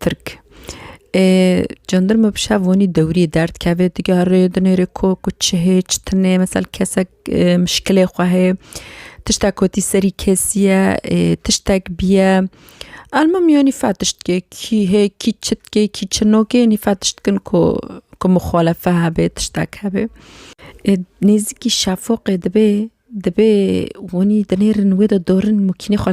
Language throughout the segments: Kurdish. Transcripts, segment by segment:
Tirk, Ê cendirme bi şev wanî dewrî derd kevê digerê di nêrê ku ku çi hê çi tune mesel kesek mişkilê xwe hê tiştek kotî serî kesî ye ê tiştek bîye elmim yanî fehm tiştkê kî hê kî çi dikê kî çi nake nî fehm tiştkin ku ku mixalefe hebe tiştek hebe. Ê nêzîkî şefoqê dibê dibê wanî di nêrin wê de dorin mûkînê xwe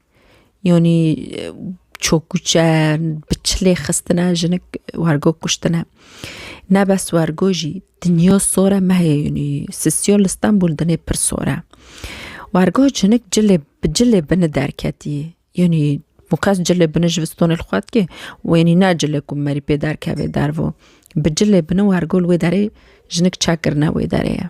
Yanî çokûçe bi çilê xistine jinik wergo kuştine. Ne bes wergo jî dinya sor e mehê yanî sisiya li Stenbol dinê pir sor e. Wergo jinik cilê bi cilê bini derketî yanî bi qas cilê bini ji vistanê li xwe dike û yanî ne cilê ku merî pê derkeve derve. Bi cilê bini wergo li wê derê jinik çekirine wê derê ye.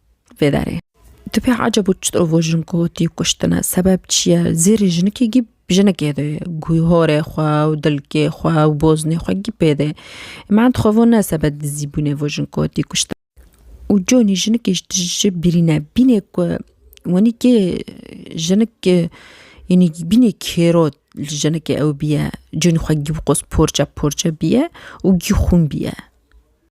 vê derê. Tu pê eceb û çit û jin kotî kuştine sebeb çi ye? Zêrê jinikê gî jinikê de ye. Guy horê xwe û dilkê xwe û boznê xwe gî pê de. Min dixwevo ne sebeb dizî bûnê vo jin kotî kuştine. Û conî jinikê ji tije ji birîne bînê ku wenî kê jinik yenî bînê kêro li jinikê ew bîye conî xwe gî bi qos porçe porçe bîye û gî xûn bîye.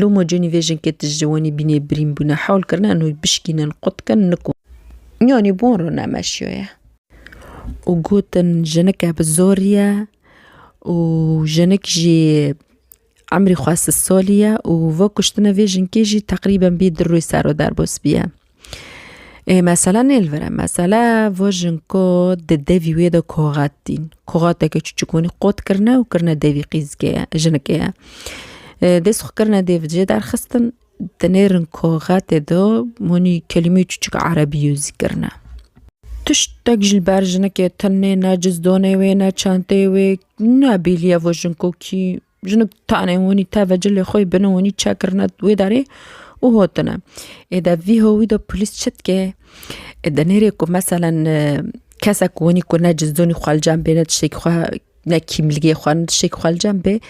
Lomo cînî vê jinkê tij ji wenî bînê birîn bûne, hewl kirine eno wî bişkînin, qutkin, niko. Yanî bon re nemeşiyoye. Û gotin jinike bi zorî ye û jinik jî emrî xwe sid solî ye û vekuştine vê jinkê jî teqrîben bî di rûyê ser û derbos bîye. Ê mesela nê li vir e. Mesela vojin ku di devî wê de koxat tîn. Koxateke çûçik hûnî qot kirine û kirine devî qîzikê ye jinikê ye. Dest xwe kirine dê vijê derxistin di nêrin koxetê de hûnî kelîmeyê çûçik erebî yo zî kirine. Tiştek ji li ber jinikê tune ne cizdanê wê ne çenteyê wê ne bîliya vojin ku kî Jinû tanê hûnî teve cilê xwe yê binû hûnî çek kirine wê derê û hotine. Ê de vî howî de polîs çi dike? Ê de nêrê ku meselen kesek hûnî ku ne cizûnî xwe li cem bê ne tiştekî xwe ne kîmligê xwe ne tiştekî xwe li cem bê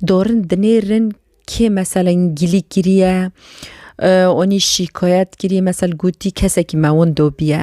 dorin dinêrin kê meselen gilî kiriye, hûnî şîkayet kiriye mesel gotî kesekî me winda bûye.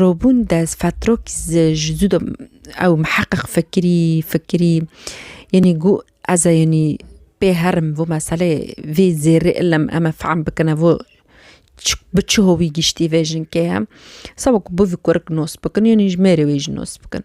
Robûn de fetrok ji zû de ew miheqeq fikirî fikirî yanî got ez ê yanî pê herim vê meseleyê vê zêrê ilim em ê fehm bikin ev bi çi hovî giştî vê jinkeya sawek bi vî kurik nas bikin yanî ji mêrê wê jî nas bikin.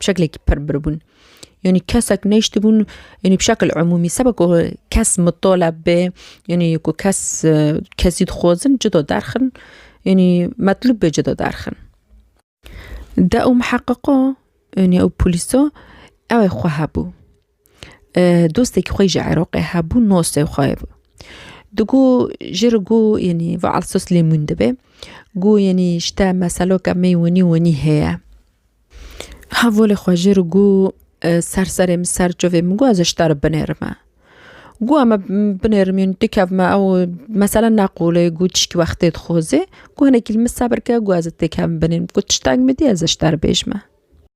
bi şeklekî pir biribûn. Yanî kesek neyştibûn yanî bi şekil umûmî seba ku kes mitole bê yanî ku kes kesî dixwazin cida derxin yanî metlûb bê cida derxin. De û miheqiqo yanî ew polîso ew ê xwe hebû. dostekî xwe ji Iraqê hebû nosê xwe digo jê re got yanî va Alsos Lêmûn dibe got yanî ji te meseloka me winî winî heye hevolê xwe jê re got ser serê min ser çavê min got ez ji te re binêrime got em ê binêrim yanî tu kevime ew mesela neqûlê got tiştî wextê dixwazê got hinekî li min sebir ke got ez ê têkevim binêrim got tiştek midî ez ji te re bêjime.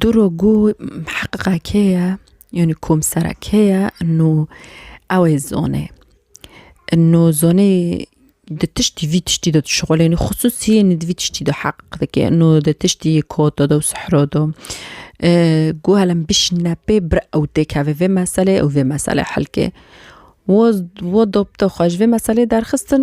Dûro gû heqiqa kê ye? Yanî komsera kê ye û ew ê zone. Nû zonê di tiştî vî tiştî de dişuxulêne xisûsî yanî di vî tiştî de heq dike nû di tiştî kota de û sihro de gû elem bişîne pê bir ew tê keve vê meselê ew vê meselê helkê wo wo dopte xwe ji vê meselê derxistin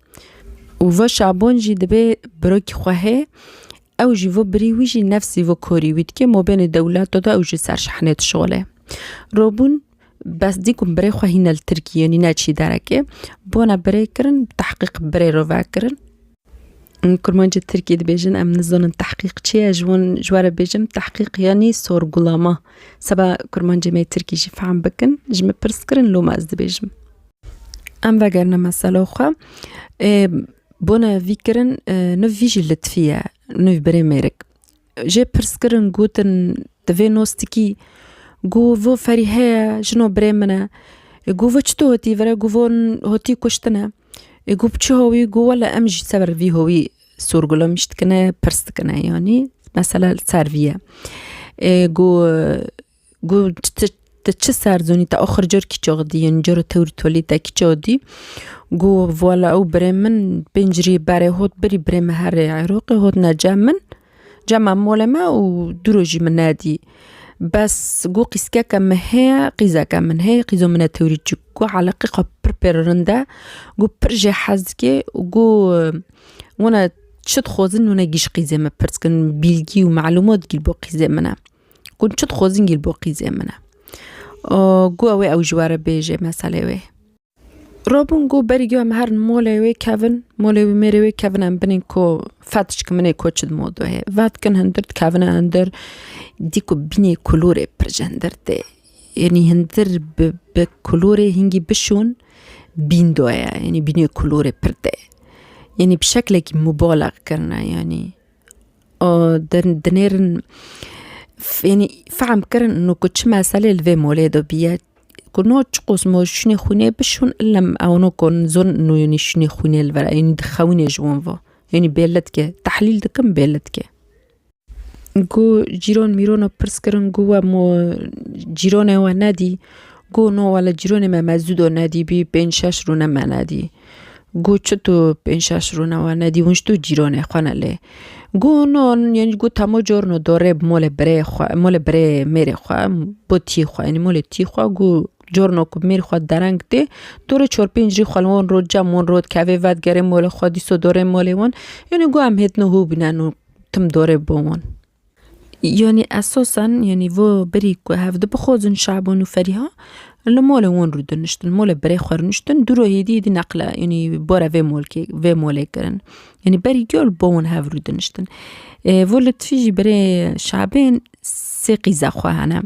Û vo şabon jî dibê birokî xwe hê, ew jî vo birî wî jî nefsî vo korî wî dike mobênê dewleto de ew jî ser şehnê dişole. Robûn bes dî ku birê xwe hîne li Tirkiyê yanî ne çî derekê, bona birê kirin tehqîq birê re ve kirin. Kurmancê Tirkiyê dibêjin em nizanin tehqîq çi ye, ji wan ji we re bêjim tehqîq yanî sorgulama. Seba kurmancê me yê Tirkî jî fehm bikin, ji min pirs kirin loma ez dibêjim. Em vegerine mesela xwe. Bone vî kirin niv vî jî litfî ye nivî birê mêrik. Jê pirs kirin gotin di vê nostikî gu vu ferî heye jino birê min e. Gu vu çito hotî vire gu vu hotî kuştine. Ê gu bi çi howî gu wele em ji ser vî howî sorgulemiş dikine pirs dikine yanî mesela li ser vî ye. Ê gu Gu ti çi serzonî te axir cor kîçe xwe dî yên cor tewr tolî te kîçe xwe dî gu wala ew birê min pênc rî berê hot birî birê min herê Iraqê hotne cem min cema molê me û du roj jî min nedî bes gu qîskeke min heye qîzeke min heye qîzo min e tewrî çik gu heleqî xwe pir pir rind e gu pir jê hez dike gu wana çi dixwazin wana gîj qîzê min pirs kirin bîlgî û melûmat gîl bo qîzê min e. Gun çi dixwazin gîl bo qîzê min e. Gu ew ê ew ji were bêjê meselê wê. Robin gu berî gu em herin molê wê kevin, molê wî mêrê wê kevin em binên ku fetişk minê ku çi dimo dohê. Vetkin hindir dikevine hindir dî ku bînê kulûrê pir ji hindir tê. Yanî hindir bi bi kulûrê hingî bişûn bîn doye yanî bînê kulûrê pir tê. Yanî bi şeklekî mubaleq kirine yanî. dinêrin fênî fehm kirin û ku çi meselê li vê molê de bûye ku no çi qûs no şûnê xwînê bişon ilem ew no ku zon nûyonî şûnê xwînê li vera ênî dixewinê ji wan ve ênî bê li dike tehlîl dikim bê li dike. Ku cîran mîrana pirs kirin ku we mo cîranê we nedî ku no we li cîranê me mezûda nedî bî pênc şeş rûne me nedî. Got çi tu pênc şeş rûne we nedî hûn ji tu cîronê xwe ne lê. Got no yanî got tamo corno dorê bi molê birêyê xwe molê birê mêrê xwe bo tî xwe yanî molê tî xwe got corno ku mêr xwe dereng tê dorê çor pênc rî xwe li wan rot cem wan rot kevê vedigerê molê xwe dîsa dorê molê wan yanî got em hêdina hûbîne no tim dorê bo wan. Yanî esasen yanî vo birî ku hev dibixwazin Şaban û Ferîha li malê wan rû diniştin mala birê xwe rûniştin dû roj êdî êdî neqle yanî bara vê malkê vê malê kirin. Yanî berî giya li ba wan hev rû diniştin. Vo Letîfî jî birê Şabên sê qîza xwe hene.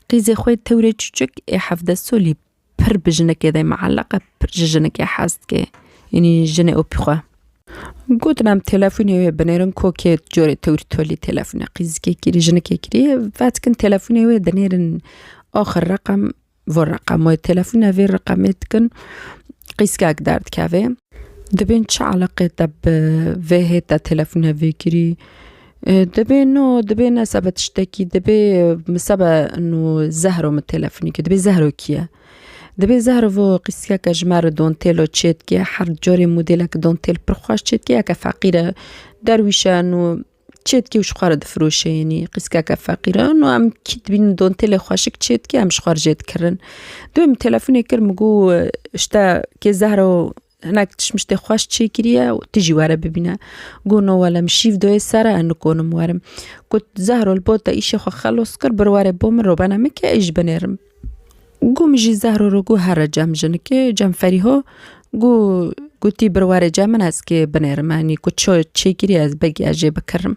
Qîzê xwe tewrê çûçik ê hevdeh solî Pir bi jinekê de mieleq e, pir ji jinekê hez dike. Yanî jinê opî xwe. Gotin em telefonê wê binêrin kokê corê tewr tolî telefonê qîzikê kirî jinekê kirî vedikin telefonê wê dinêrin axir reqem vir reqem wê telefona vê reqemê dikin qîzkek derdikevê. Dibên çi eleqê te bi vê hêta telefona vê kirî. Dibê no dibê ne sebe tiştekî dibê min sebe no zehro min telefonî kir dibê zehro kî ye? Dibê zehro vo qîskeke ji me re dontêlo çêdike her carê modêleke dontêl pir xweş çêdike yeke feqîr e derwîşe no çêdike û ji xwe re difiroşe yanî qîskeke feqîr e no em kî dibînin dontêlê xweşik çêdike em ji xwe re jê dikirin. Dibê min telefonê kir min got ji te kê zehro Hinek tişmiştê xweş çêkiriye û tu jî were bibîne. Got no wele min şîv doyê ser e, ez nikonim werim. Got Zehro li bo te îşê xwe xelos kir bir were bo min robena min ke ez jî binêrim. Got min jî Zehro re got here cem jinikê cem Ferîho got gotî bir were cem min ez kê binêrim. Yanî got ço çêkiriye ez begî ez jê bikirim.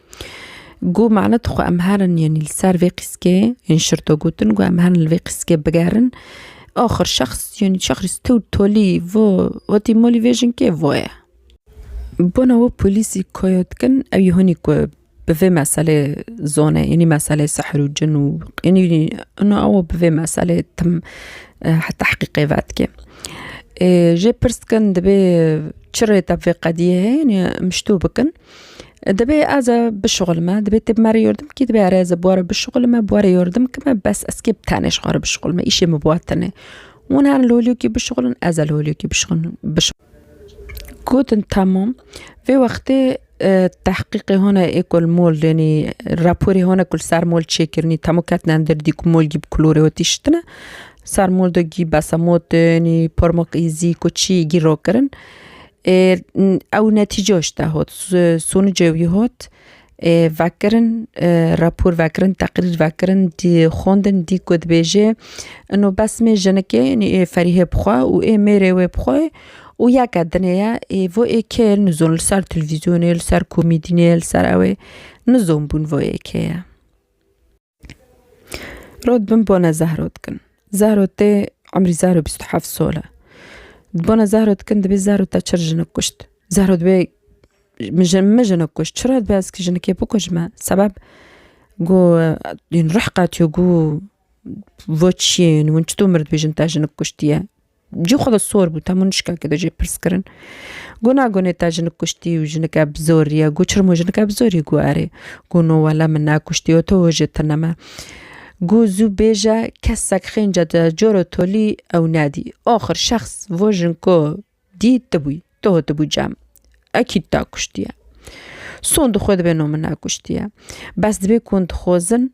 Ku me ne dixwe em herin yanî li ser vê qîskê yên şirto gotin ku em herin li vê qîskê bigerin. Axir şexs yanî şexs tu tolî vo wetî molî vê jinkê vo ye. Bona we polîsî koya dikin ew yê hûnî ku bi vê meselê zone yanî meselê sihr û cin û yanî ina ew bi vê meselê tim tehqîqê vedike. Ê jê pirs dikin divê çi rê te bi vê qediyê heye yanî em ji to bikin. دەبێ ez e bişuxulme divê tu bi me re yardim bikî divê erê ez bi we re bişuxulme bi we re yardim bikime bes ez kê bi tenê ji xwe re bişuxulme îşê min bi we tune hûn herin li holiyekê bişuxulin ez e li holiyekê bişuxulin gotin temam vê wextê tehqîqê hûna ê ku li mol yanî raporê hûna ku li ser mol çêkirinî temû ketine li derdî ku mol gî bi kulorê we tiştine ser mol de gî besemotin pormoqîzî ku çî gî rakirin. Ew netîce işte hot, sonucê wî hot vekirin rapor vekirin teqrîr vekirin dî xwendin dî ku dibêje ino bes mê jinikê nê ê ferîhê bi xwe û ê mêrê wê bi xwe û yeke dinê ye ê vo ê kê nizon li ser televîzyonê li ser komîdînê li ser ewê nizon bûn vo yê kê ye. Rod bin bona zehro dikin. Zehro tê emrî zehro bîst û heft sal e. Di bona zehro dikin dibê zehro te çir jinik kuşt. Zehro dibê min jin min jinik kuşt. Çira dibê ez ki jinikê bikujme? Sebeb ku rih qetiyo ku vo çiyê win çito mirdibê jin te jinik kuştiye. Cî xwe ve sor bû temû nişka ke dojê pirs kirin. Gu na gunê te jinik kuştî û jinike bi zor riye? Gu çirmo jinike bi zorî? Gu erê. Gu no wele min nekuştî û to hojê tune me. Gu zû bêje kesek xênce de coro tolî ew nedî. Axir şexs vo jinko dî ti bûyî. Tu hatibû cem. Ekîd te kuştiye. Son di xwe dibê no min nekuştiye. Bes dibê ku hûn dixwezin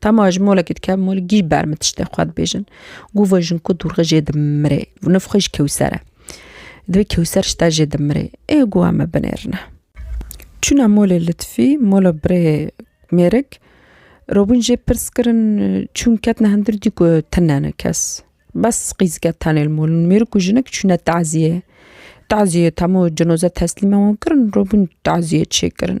Tama ji molekî dike mol gî ber min tiştê xwe dibêjin. Gû ve jin ku dûrxe jê dimirê û niv xwe ji kewser e. Divê kewser ji te jê dimirê. Ê gûa me binêrine. Çûna molê Litfî, mola birê mêrik, robûn jê pirs kirin çûn ketine hindir dî ku tune ne kes. Bes qîzike tenê li molin. Mêrik û jinik çûne taziyê. Taziyê tama cinoze teslîma wan kirin, robûn taziyê çêkirin.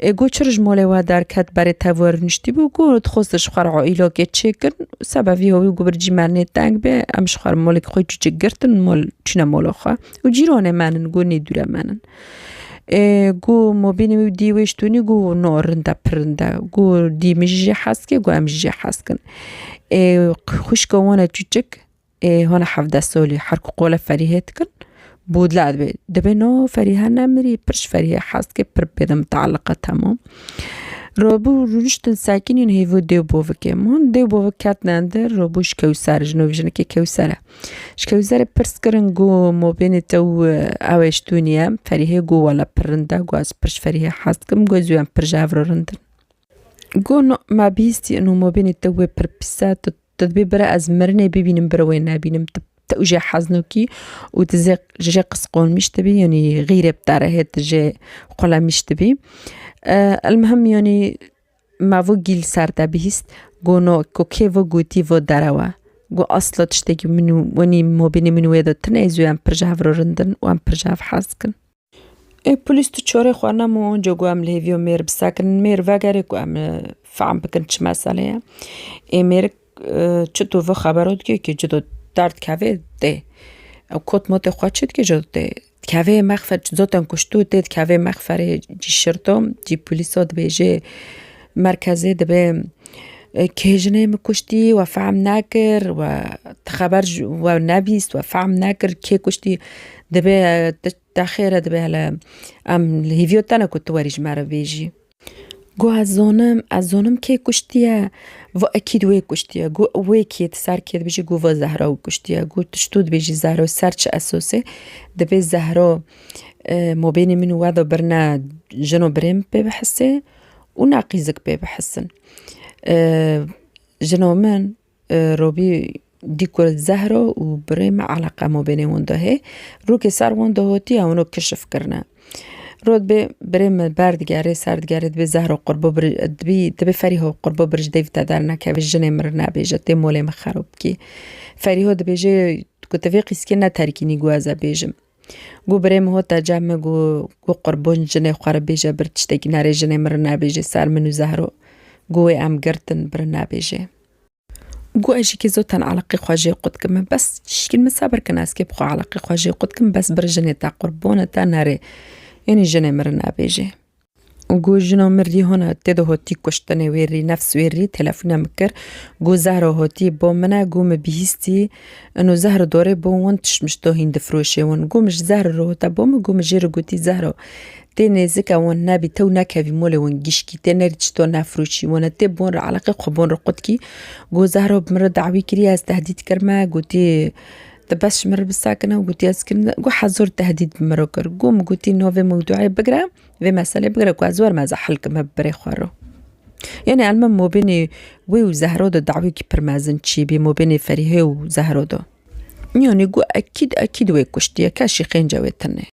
Ê got çi rij malê we derket berê tev we rûniştî bû got dixwest di xwe re îlakê çêkin seba vî hawî got bircî me nê teng bê em ji xwe re malekî xwe çûçik girtin mal çûne mala xwe û cîranê me nin got nê dûre me nin. Ê got ma bînî wî dî wê ji tonî got na rind e pir rind e got dî min jî jê hez kir got em jî jê hez kin. Ê xwişka wan e çûçik ê hona hevdeh solî her ku qole Ferîhê dikin bû dila dibê. Dibê no Ferîhe nemirî pir ji Ferîhê hez dike pir pê de mitealiqe temam. Robû rûniştin sekinîn hêvî dêw bovikê hûn dêw bovik ketine dir robû ji kewser ji no jinekê kewser e. Ji kewserê pirs kirin ku mobênê te û ew ê ji tu niye Ferîhê ku wela pir rind e ku ez pir ji Ferîhê hez dikim ku ez û em pir ji hev re rind in. Ku no me bihîstî ino mobênê te wê pir pîs e tu Tu dibê bire ez mirinê bibînim bire wê nebînim tu tu jê heznokî û tu zê ji jê qisqolmîş dibî yanî xîrê bi te re hê tu jê xulemîş dibî. Elmuhim yanî me vû gîl ser te bihîst got no ku kê vû gotî vû derewe got asla tiştekî min û wenî mobîlê min û wê de tune zû em pir ji hev re rind in û em pir ji hev hez dikin. Ê polîs tu çorê xwe nem û onco ku em li hêviyo mêr bi ser kirin mêr vegerê ku em fehm bikin çi meselê ye. Ê mêr çi tu vi xebero dike ki ci do der dikeve dê. Ew kot motê xwe çi dike ji dê. Dikeve mexfe zotên kuştu dê dikeve mexferê cî şirto cî polîso dibêje. Merkezê dibe kê jinê min kuştî we fehm nekir we ti xeber ji we nebîst we fehm nekir kê kuştî dibe te xêre dibe hele em li hêviyo te ne ku tu ji me re bêjî. Got ez zonim ez zonim kê kuştiye got ekîd wê kuştiye got wê kê di ser kê dibêjî got vat zehra wî kuştiye got tu çito dibêjî zehra li ser çi esosê dibê zehra mabênê min û we de birine jin û birê min pê bihise. û neqîzik pê bihesin. Jina min Robî dî ku Zehra û birê me eleqa ma bênê wan de hê, rûkê ser wan de hatiye wan rok kişif kirine. Rût bê birê me berdigerê ser digerê dibê Zehra qurba birij dibî dibê Ferîha qurba birij dêv te dernekevê jinê min re nebêje tê malê min xerab bikî. Ferîha dibêje ku ti vê qîskê ne terkînî ku ez e bêjim. Gû birê min hot e cem min gû gû qurbûn jinê xwe re bêje bir tiştekî nerê jinê min re nebêjê ser min û zehro gû wê em girtin bir nebêjê. Gû ez jî kê zotan eleqê xwe jê qut kim min bes tişkîn min sebir kin ez kê bixwe eleqê xwe jê qut kim bes bir jinê te qurbûn te nerê yanî jinê min re nebêjê. û got, Jina min rî hona tê de hotî kuştinê wê rî nefs wê rî telefûne min kir. Got, Zehra hotî bo min e. Got, Mi bihîstî ino zehra dorê bo win tişmiş do hîn difiroşê win. Got, Min ji zehra re hota bo min. Got, Min jê re gotî Zehra tê nêzik e win nebî tew nekevî molê win gişkî tê nerî çi to nefiroşî win e tê bi win re eleqê xwe bi win re qutkî. Got, Zehra bi min re dawî kiriye ez tehdît kirime gotî Dibes ji min re bisakine û gotiye ez kirin wiha zor tehdîd bi min re kir. Got min gotî no vê mewdûeyê bigire, vê meselê bigire ku ez werim ez e hil kime bi birê xwe re. Yanî em li mabênê wê û Zehra de dawiyekî pir mezin çîbî mabênê Ferîhê û Zehra de. Yanî got ekîd ekîd wê kuştiye keşî qênce wê tune.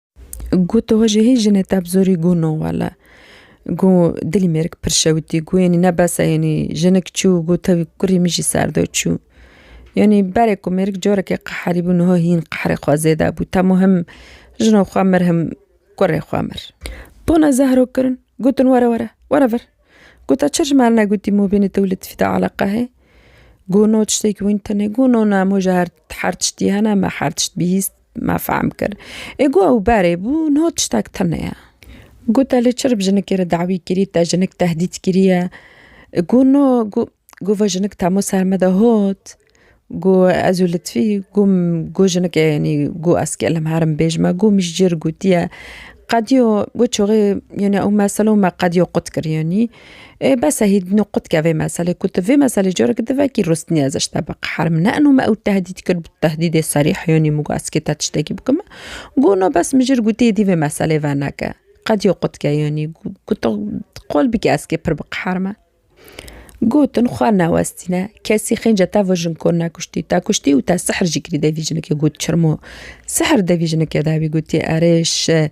Gu tu hojê hê jinê te bi zorî gu no wele. Gu dilî mêrik pir şewitî gu yenî ne bes e yenî jinik çû gu tewî kurî min jî ser de çû. Yenî berê ku mêrik corekê qeherî bû niha hîn qeherê xwe zêde bû te muhim jina xwe mir him kurê xwe mir. Bona Zehro kirin gotin were were were vir. Gu te çi ji me re negotî mabênê te û Letîfî de eleqe hê? Gu no tiştekî wîn tenê gu no ne moja her her tiştî hene me her tişt bihîst. me fehm kir. Ê got ew berê bû, niha tiştek tune ye. Got te lê çirb jinikê re dawî kirî, te jinik tehdît kiriye. Got na, got got ve jinik temo ser me de hat, got ez û Litfî got got jinikê yanî got ez kêlim herim bêj me, got min ji cî re gotiye qediya got çaxê yanî ew mesele û me qediya qut kir yanî. Ê bes e hî din û qutke vê meselê ku tu vê meselê careke din vekî rûstnîye ze ji te bi qeherm ne eno me ew tehdît kir bi tehdîdê serîh yanî mûgaskê te tiştekî bikim got no bes min jir gotî êdî vê meselê veneke qedîya qutke yanî goto qol bike ez kê pir bi qeher me gotin xwe newestîne kesî xênce te vajin kor nekuştî te kuştî û te sihr jî kirî de vî jinekê got çirmo sihr de vî jinekê de vî gotî erê şi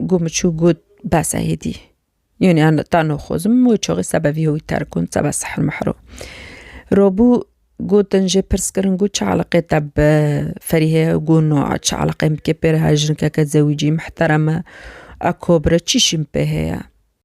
Gu min çû got, Bes e hêdî. Yûnî an ta no xozim wê çaxê sebe vî hoyî terk kon, sebe sihr mihr o. Rabû gotin jê pirs kirin got, Çi eleqeyê te bi Ferîhê ye? Got, No a çi eleqeyê min bikê pê re her jinkeke zewîcî, mihterem e, akabir e, çî şî min pê heye?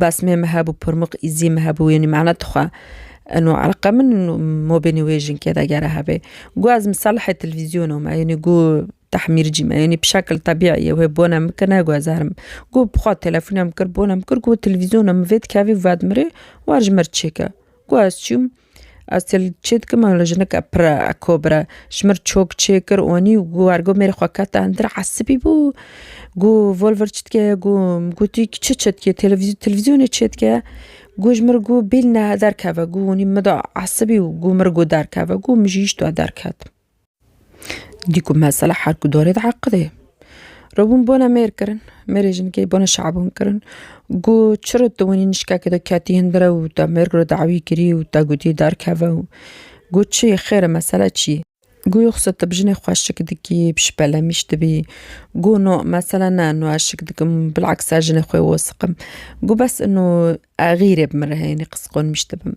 Basimê me hebû Purmux Îzî me hebû yanî mana dixwe eno eleqa min mobênê wê jinkê de gere hebe. Gu ez misalihê televîzyona me yanî gu tehmîrcî me yanî bi şekil tebîî ye wê bona min kir ne gu ez herim. Gu bi xwe telefona min kir bona min kir gu televîzyona min vê dikevî vedimrê wer ji min re çêke. Gu ez çûm. Ez tê li çê dikim û li jineke pir e kobir e. Ji mir çok çê kir onî û war got mêrê xwe kete hundir esibî bû gû volver çi dike gû min gotî kî çi çi dike televîzyon televîzyonê çê dike gû ji mir gû bîlne derkeve gû onî min da esibî û gû mir gû derkeve gû min jî îştoya derketim. Dîku mesela her ku dorê de eqilê. Robûn bona mêr kirin, mêrê jinikê bona şabûn kirin. Gu çiro tu winî nişkekê de ketî hin dire û te mêr kiro dawî kirî û te gotî derkeve û gu çi yê xêr e mesela çi yê. Gu yoxsa tu bi jinê xwe şik dikî, bi şipelemîş dibî. Gu no mesela ne no ez şik dikim bilexsa jinê xwe wosiqim. Gu bes ino exîrê bi min re heye nê qisiqonmîş dibim.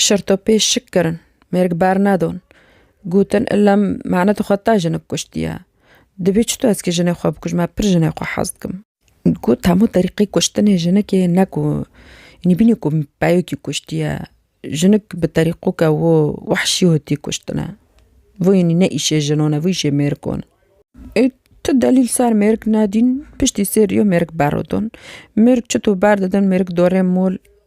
Şirtopê şik kirin, mêrg bernedon. Gotin illem mane tu xwe ta jinik kuştiye. Dibê çito ez kê jinê xwe bikujim, me pir jinê xwe hez dikim. Got hemû terîqê kuştinê jinikê ne ku înî bînî ku peyokî kuştiye. Jinik bi terîqoke wo wehşî hotî kuştine. Vû înî ne îşê jinon e, vû îşê mêrgon e. Ê tu delîl ser mêrg nedîn, piştî sê riyo mêrg berodon. Mêrg çito berdidin mêrg dorê mol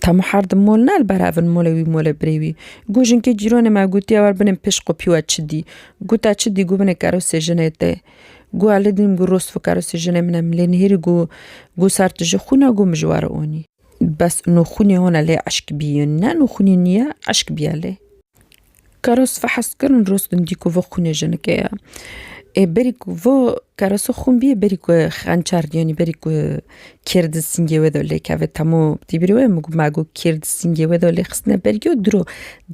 Temo her di mol ne li ber hev in molê wî molê birê wî. Gu jinkê cîronê me gotiye wer binê pişt qopî we çi dî. Gota çi dî gu binê kerosê jinê tê. Gu elê dînim gu rost vo kerosê jinê min e min lê nihêrî gu gu ser tu ji xwîna gu min ji we re onî. Bes nûxwînê hone lê eşk bî ne nûxwînê nîye eşk bîye lê. Keres fehes kirin rûstin dî ku vê xûnê jinike ye. Ê berî ku vê keresa xûn bîyê berî ku xençer yanî berî ku kêr di singê wê de lêkeve temû tî birî wê me got kêr di singê wê de lêxistine bergî û diro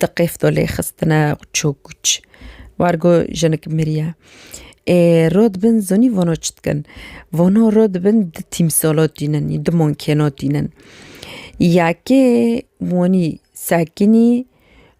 di qêf de lêxistine çûk çûk war ku jinik miriye. Ê re dibin zanî vana çi dikin vana re dibin di tîmsala tînin ê di mankena tînin. Yekê wanî sekinî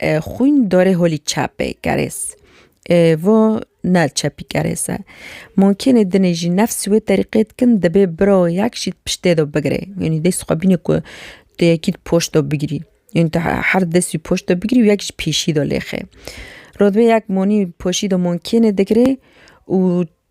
Xwîn dorê holî çepê kerês e, vo ne çepî kerês e. Mûmkînê dinê jî nefs wê terîqê dikin dibê biro yek jî di piştê do bigirê. Yanî dê xwe bîne ku tu yekî di poşt do bigirî. Yanî tu her dest jî poşt do bigirî û yek jî pêşî do lêxê. Rûdibê yek monî poşî do mûmkînê digirê û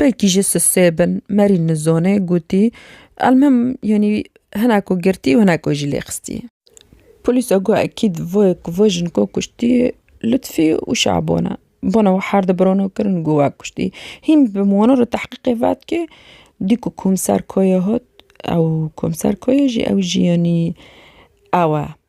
belkî jî sisê bin merî nizone gotî elmim yanî hinek û girtî û hinek jî lê xistî. Polîsa got ekîd vo jin ku kuştî Lutfî û Şabon e. Bona wi her di birona kirin got we kuştî. Hîn bi wana re tehqîqê vet kê dî ku komser Kaya hat ew komser Kaya jî ew jî yanî ew e.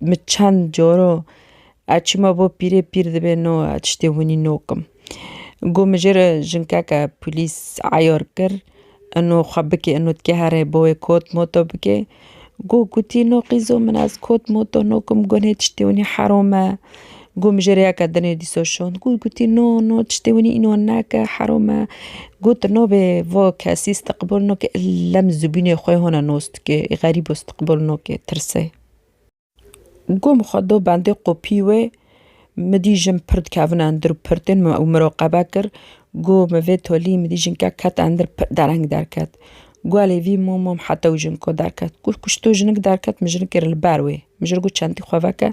Min çend caro ez çima bo pîrê pîr dibê no ez tiştê winî nokim. Got min jê re jinkeke polîs eyar kir ino xwe bikê ino dikê here bo wê kot moto bikê. Got kutî no qîzo min ez kot moto nokim gunê tiştê winî herom e. Got min jê rêyeke dinê dîsa şand got gotî no no tiştê winî înan neke herom e got nabê va kesî stiqbol nake ille min zibûnê xwe hona nas dike ê xerîbo stiqbol nake tirse. Got min xwe da bendê qopî wê min dî jin pir dikevin endir û pir tên min ew miraqebe kir got min vê tolî min dî jinkek ket endir pir dereng derket Guelê vî mû mûm heta wî jiniko derket. Got, kuşto jinik derket min jinikê re li ber wê. Min ji re got çentê xwe veke.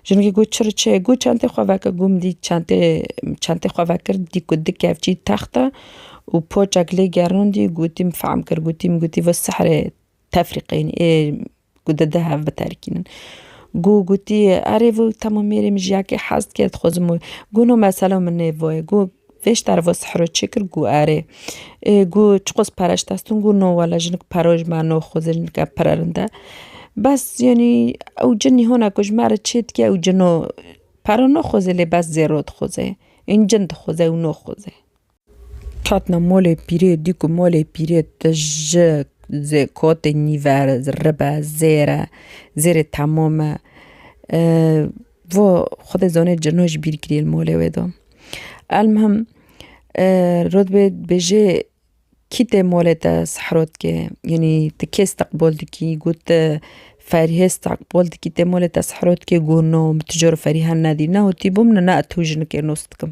Jinikê got çi re çi ye? Got çentê xwe veke. Got min dît çentê çentê xwe vekir dît ku di kevçî text e û poçek lê gerandî gotî min fehm kir gotî min gotî vê sihirê tefrîqeyîn ê ku di di hev biterkînin. Ku gotî erê vû temû mêrê min jiyakê hez dike dixwe zim û ku no mesele min nê vayê ku vê ji tervo sihro çê kir ku erê ku çiqas pere ji dest in ku no wele jinik pero ji me no xwezê jinike pirerind e. Bes yanî ew cin nîhona ku ji me re çê dike ew cino pero naxweze lê bes zêro dixweze ên cin dixweze ew naxweze. Hatina molê pîrê dî ku molê pîrê te ji zê kotê nîver ribe zêre zêrê temam e vo xwedê zanê cino ji bîr kirî li molê wê de. Elmihim rotbê dibêjê kî tê molê te sihrotkê yanî ti kê isteqbol dikî got te ferhê isteqbol dikî tê molê te sihrotkê got no min tu cor ferî hene dî ne witîbûm ne tu jinikê nas dikim.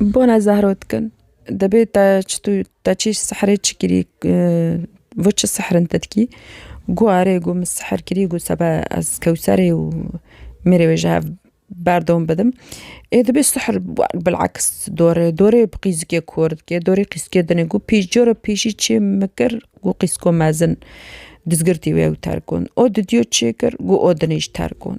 Bona zehro dikin dibê te çi tu te çi sehrê çi kirî vo çi sehrin te dikî gu erê gu min sehr kirî gu sebe ez kewserê û mêrê wê ji hev berdom bidim ê dibê sehr bilaks dorê dorê bi qîzikê kor dikê dorê qîzikê dinê gu pî cora pîşî çê min kir gu qîziko mezin dizgirtî wê ew terkon o didiyo çêkir gu o dinê ji terkon.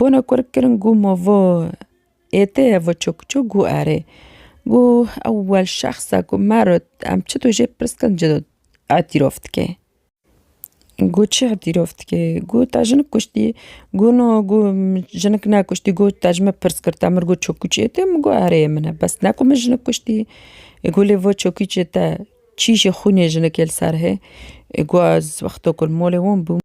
Bona ku rik kirin got ma va êtê ye va çi ku çi got erê. Got ewel şexsa ku me re em çi tu jê pirs kirin tu îtiraf dikê. Got çi îtiraf dikê got te jinik kuştî got na got min jinik nekuştî got te ji min pirs kir te min got çi ku çi êtê min got erê ê min e bes ne ku min jinik kuştî. Got lê va çi ku çi te çî jê xwînê jinikê li ser hê got ez wexta ku li malê wan bûm.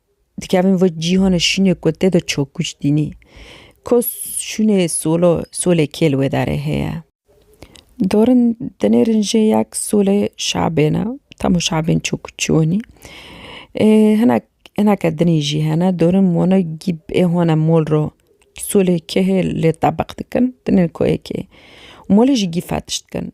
Dikevin vê cîhanê şînê ku tê de çok güç dînî. Ko şûnê solo, solê kê li wê derê heye. Dorin dinêrin jê yek solê şabê ne. Temo şabên çok güç çiwenî. Ê hinek hineke dinî jî hene. Dorin wana gîb ê wana mol ro solê kê hê lê tebeq dikin. Dinê ko ê kê. Molê jî gî fetiş dikin.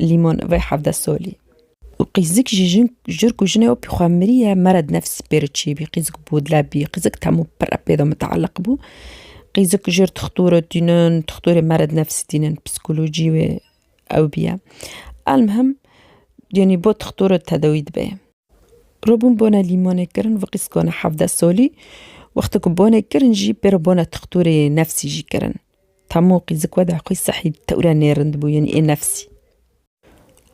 Lîmon vê hevde solî. Û qîzik jî jin jirk û jinê wê pî xwe mirîye mered nefs pê re çîbî. Qîzik bodle bî. Qîzik temo pir re pê de muteelliq bû. Qîzik jir tixtor re tînin, tixtorê mered nefsî tînin. Psîkolojî wê ew bîye. Elmihim yanî bo tixtor re tedawî dibe. Re bûn bone lîmonê kirin vê qîzikone hevde solî. Wexto ku bone kirin jî pê re bone tixtorê nefsî jî kirin. Tamo qîzik weda xwî sehî tewre nêrind bû yenî ê nefsî.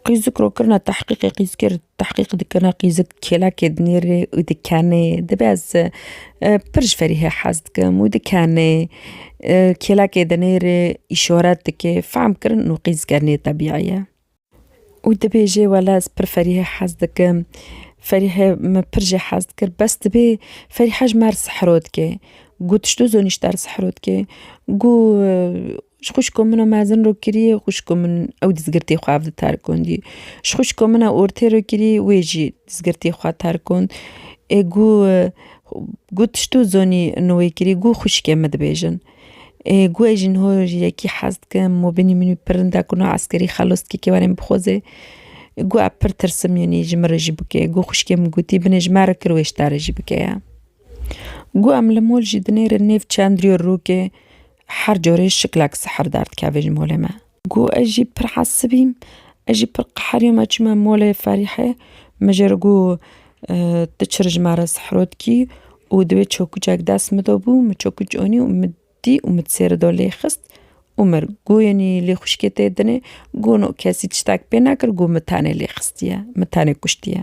Qîzik ro kirina tehqîqê qîzkê ri tehqîq dikirina qîzik kêlekê dinêrê û dikenê dibe ez pir ji ferîhê hez dikim û dikenê kêlekê dinêrê îşoret dike fehm kirin û qîzike nêtebîyî ye. Û dibêjê wele ez pir Ferîhê hez dikim. Ferîhê min pir jê hez dikir. Bes dibê Ferîhe ji me re sihro dike. Got ji doza nîşter sihro dike. Got ji xwişka min re mezin re kirî xwişka min ew dizgirtê xwe ev diterkundî. Ji xwişka min re ortê re kirî wê jî dizgirtê xwe terkund. Ê got ji doza nî wê kirî got xwişkê min dibêjin. Guhê jin ho yekî hez dikim û binî min wî pirin da ku na eskerî xelos dike kê warê min bixweze. Guha pir tirsim yanî ji min re jî bike. Guh xwişkê min gotî binê ji me re kir wê ji te re jî bike ya. Guh em li mol jî dinêrin nêv çendrîyo rokê her carê şiklek sihrdar dikeve ji molê me. Got, Ez jî pir hesibîm, ez jî pir qeherîm me çûme molê Ferîhê, min jê re got, Tu çi re ji me re sihro dikî û divê çokûçek dest min de bû, min çokûç anî û min dît û min sêre de lê xist û mir. Got, Yanî lê xwişkê tê dinê? Got, No, kesî tiştek pê nekir, got, Min tenê lê xistiye, min tenê kuştiye.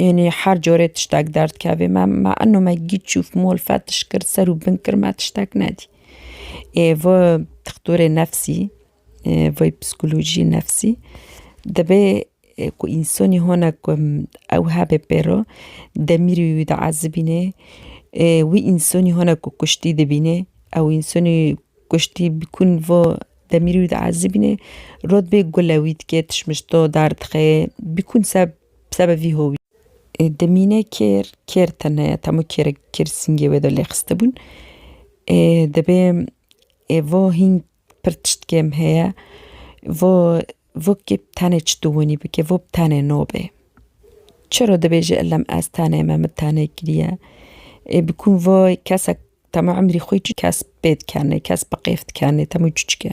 Enê her corê tiştek derdkevê me, me eno me gît çûf mol fetiş kir ser û bin kir me tiştek nedî. Ê vi dixtorê nefsî vê psîkolojî nefsî dibê ku însanî hone ku ew hebê pêro demîrî wî diezibînê wî însanî hone ku kuştî dibînê ew însanî kuştî bi ku vo demîrî wî diezibînê rotbê gule wî dikê tişt mişt do derdixeyê bi ku se Seba vî hovî. Ê demîne kêr, kêr tene ye, tamo kêrek bi kêr singê wê de lêxiste bûn. Ê dibê ê vo hîn pir tişt kêm heye. Vo vo kê bi tenê çi dûwinî bike, vo bi tenê no bê. Çiro dibêje illem ez tenê me, min tenê kiriye. Ê bi kûn vo kesek tamo imrî xo çi kes bê dikenê, kes bi qêf dikenê, tamo çi çike.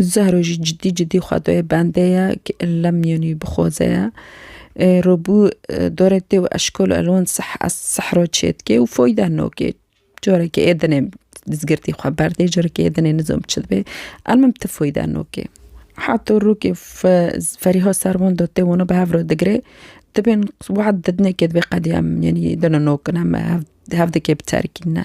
Zehro jî cidî cidî xwe dayê bendê ye ki lem yên wî bixoze ye. Robû dorê tê û eşkol elwan sih ez sihro çêdikê û foyde nokê. Carekê ê dinê dizgirtî xwe berdê, carekê ê dinê nizom çi dibê. El min ti foyde nokê. Heta rokê Ferîha Serwan da tê wana bi hev re digirê. Dibên wad didinê kê dibê qedî em yanî dina nokin em hev dikê biterikîn ne.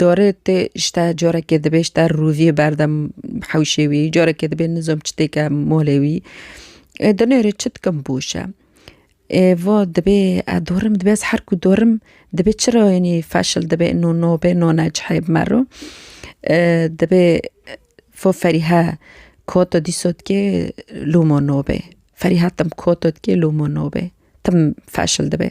Dorê tê ji te carekê dibê ji te rûvî berdem hewşê wî carekê dibê nizom çi têke malê wî ê di nêrê çi dikim boşe ê va dibê ez dorim dibê ez her ku dorim dibê çi rayînî feşil dibê no no bê no ne cihê bi me re dibê fo ferîhe kota dîsa dikê loma no bê ferîhe tim kota dikê loma no bê tim feşil dibê.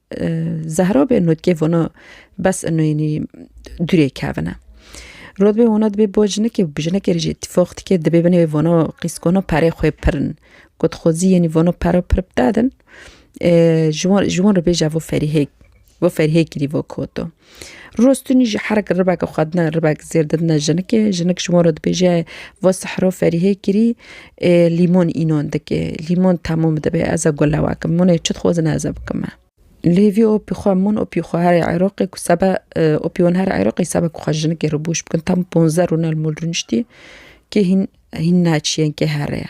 Zehra bê notgê vona bes inoynî durê kevine. Rodbê vona dibê bo jinikê û bi jinikê jî tîfox dikê dibê binê vona qîskona perê xwê pirin. Got xwezî yenî vona pera pir bidedin ji wan ji wan re bêje vo ferîhê vo ferîhê kirî vo koto. Rostunî ji herek ribek xwedina ribek zêr didine jinikê. Jinik ji wan re dibêje va sehro Ferîhê kirî ê lîmon înon dike. Lîmon temûm dibe ez e gule wakim. Munê çi dixwazine ez e bikime. Lê vî opî xwe mun opî xwe herê Iraqê ku sebe opî wan herê Iraqê sebe ku xwe jinikê re bûş bikin tam ponze rûnel mûl rûniştî kê hîn hîn naçî yên kê here ye.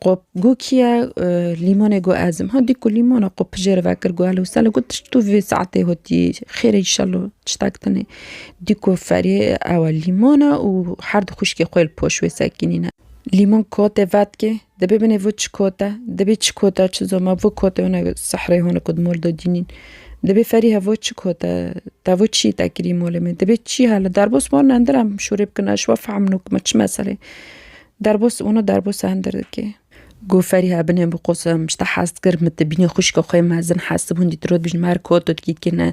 Qo gokiye lîmonê got ezim. Ha dî ku lîmona qo pijêre vekir got hello selo got tişt tu vê saetê hotî xêr e îşello tiştek tune. Dî ku ferê ewe lîmon e û her di xwişkê xwe li poş wê sekînîne. Lîmon kotê vetkê dibê binê vir çi kot e, dibê çi kot e çi zoma vir kotê hûn e sehreyê hûn e ku di mol de dînîn. Dibê ferî he vir çi kot e, te vir çiyê te kirî molê min. Dibê çi hale derbos wan e ndir em şûrê bikin eşwa fehmino me çi mesele ye. Derbos ûno derbos hender dike. Go Feriha binê bi qosa min pişta hast kir, min tibînî xwişka xwe mezin hest bûn dît rot bijî mer ko tu dikî dikî ne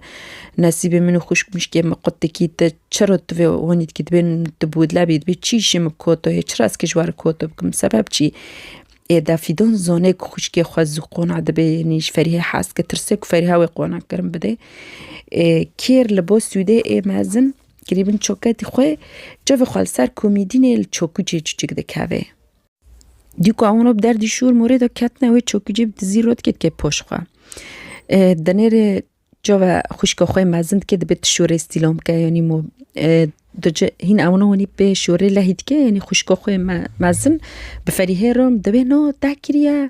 nesîbê min û xwişk mişkê min qut dikî te çiro tu vê wanî dikî dibê tu bûdlebî dibê çî îşê min bi ko to hê çira ez kê ji war ko to bikim sebeb çî ê de Fîdon zanê ku xwişkê xwe zû qona dibê yanî ji Ferîhê hez kir tirse ku Ferîha wê qona kirin bidê ê kêr li bo sûdê ê mezin Grîbin çoketî xwe cevê xwe li ser komîdînê li çokûcê çûçik dikeve. Dî ku ew bi derdî şûr morê de ketine wê çokûcê bi dizî rot kê dike poş xwe. Denêrê cove xwişka xwe mezin dike dibe tu şorê stîlam bike yanî mo dice hîn ewna wanî pê şorê lehî dike yanî xwişka xwe mezin bi ferîhê re dibe na te kiriye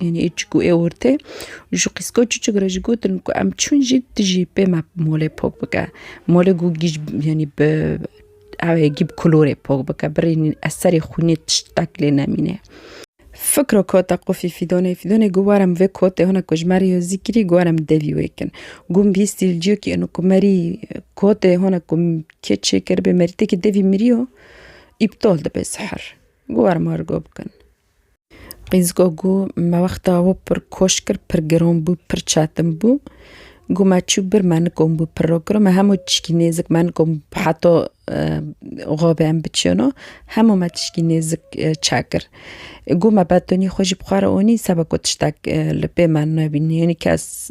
Yanî ê çik û ê ortê û ji qîsko çiçik re jî gotin ku em çûn jî tu jî pê me molê pok bike. Molê ku gîj yanî bi ew ê gî bi kulorê pok bike birînîn ez serê xwînê tiştek lê nemîne. Fikro kota qufî fîdonê, fîdonê got were min vê kotê hona ku ji me re yo zîkirî got were min devî wê kin. Got min bihîstî li ciyokî eno ku merî kotê hona ku min kê çêkiribê merîtekî devî miriyo îptal dibe sihir. Got were ma re got bikin. Qîz got ku me wexta we pir koş kir, pir giron bû, pir çetin bû. Got me çû bir me nikom bû piro kiro. Me hemû tişkî nêzik me nikom bû heta xabê em biçino. Hemû me tişkî nêzik çek kir. Got me betonî xwe jî bi xwe re onî seba ku tiştek li pê me nebî. Nî kes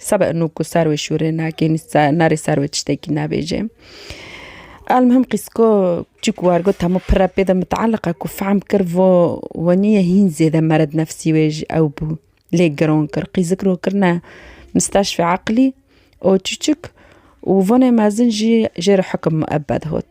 Sebe inu ku ser wê şûrê nake nerê ser wê tiştekî nebêje. Elmihim qîsko çik war got hemû pire pê de mitealiqa ku fehm kir vo we niye hîn zêde mered nefsî wê ji ew bû lê giron kir qîzik ro kirine misteşfê eqlî û çiçik û vonê mezin jî jê re hikim miebed hot.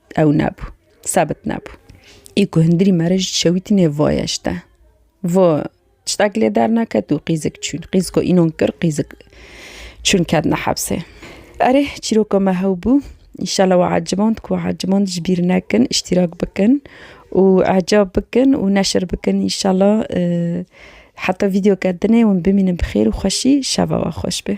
Ew nebû. Sebit nebû. Ê ku hundirî me re jî dişewîtîne voye ji te. Vo tiştek lê derneket û qîzik çûn. Qîz ku înon kir qîzik çûn ketine hebsê. Erê çîroka me hew bû. Înşallah we eciband ku eciband ji bîr nekin, îştîrak bikin û ecab bikin û neşir bikin înşallah. Heta vîdeoke dinê hûn bimînin bi xêr û xweşî. Şeva we xweş be.